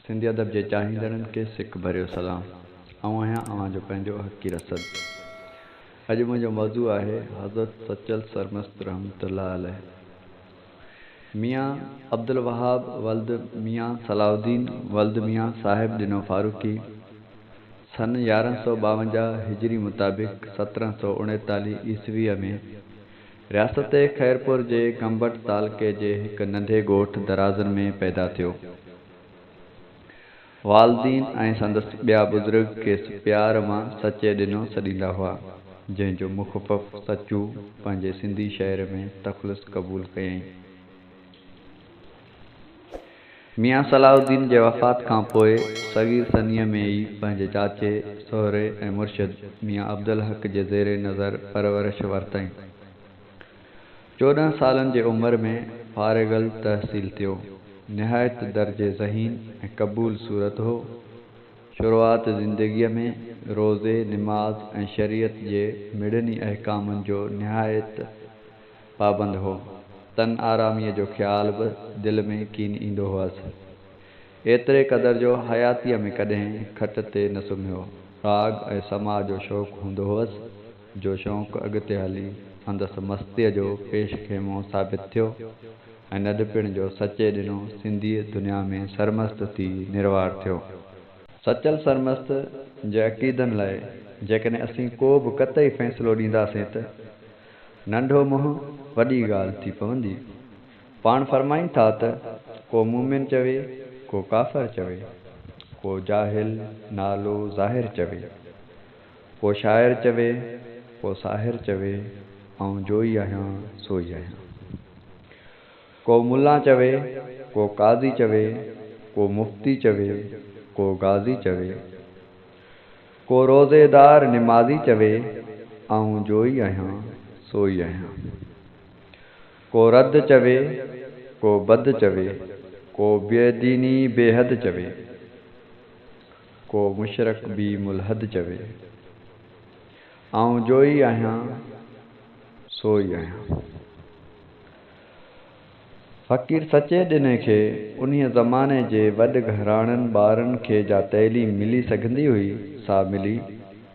سنڌي ادب جي چاهيندڙن کي سڪ ڀريو سلام. آئون آهيان اوهان جو پنهنجو حقي رسد. اڄ منهنجو موضوع آهي حضرت سچل سرمست رحمة الله عليه ميان عبدالوهاب ولد ميان صلاح الدين ولد ميان صاحب ڏنو فاروقي سن يارهن سؤ ٻاونجاهه هجري مطابق سترهن سؤ اڻيتاليهه عيسويء ۾ رياست خيرپور جي گمبٽ تعلقي جي هڪ ننڍي ڳوٺ درازن ۾ پيدا ٿيو. والدين ۽ سندس ٻيا بزرگ کيس پيار مان سچي ڏنو سڏيندا هئا، جنهن جو مخفف سچو پنهنجي سنڌي شهر ۾ تخلص قبول ڪيائين. ميان صلاح الدين جي وفات کان پوء صغير ثنيه ۾ ئي پنهنجي چاچي، سهري ۽ مرشد ميان عبدالحق جي زير نظر پرورش ورتائين. چوڏهن سالن جي عمر ۾ فارغ التحصيل ٿيو. نهايت درجي ذهين ۽ قبول صورت هو. شروعات زندگيء ۾ روزي، نماز ۽ شريعت جي مڙني احڪامن جو نهايت. پابند هو، تن آراميء جو خيال به دل ۾ ڪين ايندو هئس. ايتري قدر جو حياتيء ۾ ڪڏهن کٽ تي نه سمهيو. راڳ ۽ سماع جو شوق هوندو هئس، جو شوق اڳتي هلي سندس مستيء جو پيش خيمو ثابت ٿيو ۽ ننڍپڻ جو سچي ڏنو سنڌيء دنيا ۾ سرمست ٿي نروار ٿيو. سچل سرمست جي عقيدن لاء جيڪڏهن اسين ڪو به قطعي فيصلو ڏينداسين ته. ننڍو منهن وڏي ڳالهه ٿي پوندي. پاڻ فرمائين ٿا ته ڪو مؤمن چوي، ڪو ڪافر چوي، ڪو جاهل، نالو، ظاهر چوي، ڪو شاعر چوي، ڪو ساحر چوي، آئون جوئي آهيان، سوئي آهيان. ڪو ملا چوي، ڪو قاضي چوي، ڪو مفتي چوي، ڪو غازي چوي. ڪو روزيدار نمازي چوي، آئون جوئي آهيان، سوئي آهيان. ڪو رد چوي، ڪو بد چوي، ڪو بي ديني بي حد چوي، ڪو مشرڪ بي ملحد چوي، آئون جوئي آهيان، سوئي آهيان. فقير سچي ڏني کي انهيء زماني جي وڏ گهراڻن ٻارن کي جا تعليم ملي سگهندي هئي، سا ملي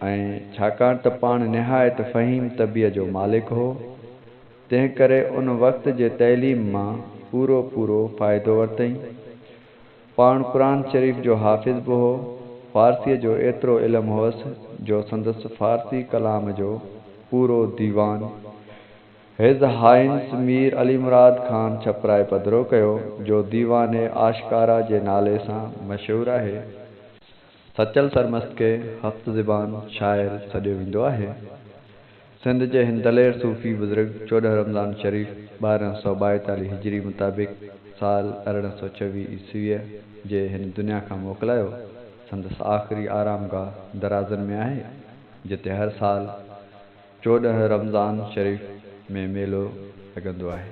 ۽ ڇاڪاڻ ته پاڻ نهايت فهيم طبعيء جو مالڪ هو، تنهنڪري ان وقت جي تعليم مان پورو پورو فائدو ورتئين. پاڻ قرآن شريف جو حافظ به هو. فارسيء جو ايترو علم هوس، جو سندس فارسي ڪلام جو پورو ديوان، هز هائينس مير علي مراد خان ڇپرائي پڌرو ڪيو، جو ديوان آشڪارا جي نالي سان مشهور آهي. سچل سرمست کي هفت زبان شاعر سڏيو ويندو آهي. سنڌ جي هن دلير صوفي بزرگ چوڏهن رمضان شريف ٻارهن سؤ ٻائيتاليهه هجري مطابق سال ارڙهن سؤ چويهه عيسويء جي هن دنيا کان موڪلايو. سندس آخري آرامگاهه درازن ۾ آهي، جتي هر سال. چوڏهن رمضان شريف ۾ ميلو لڳندو آهي.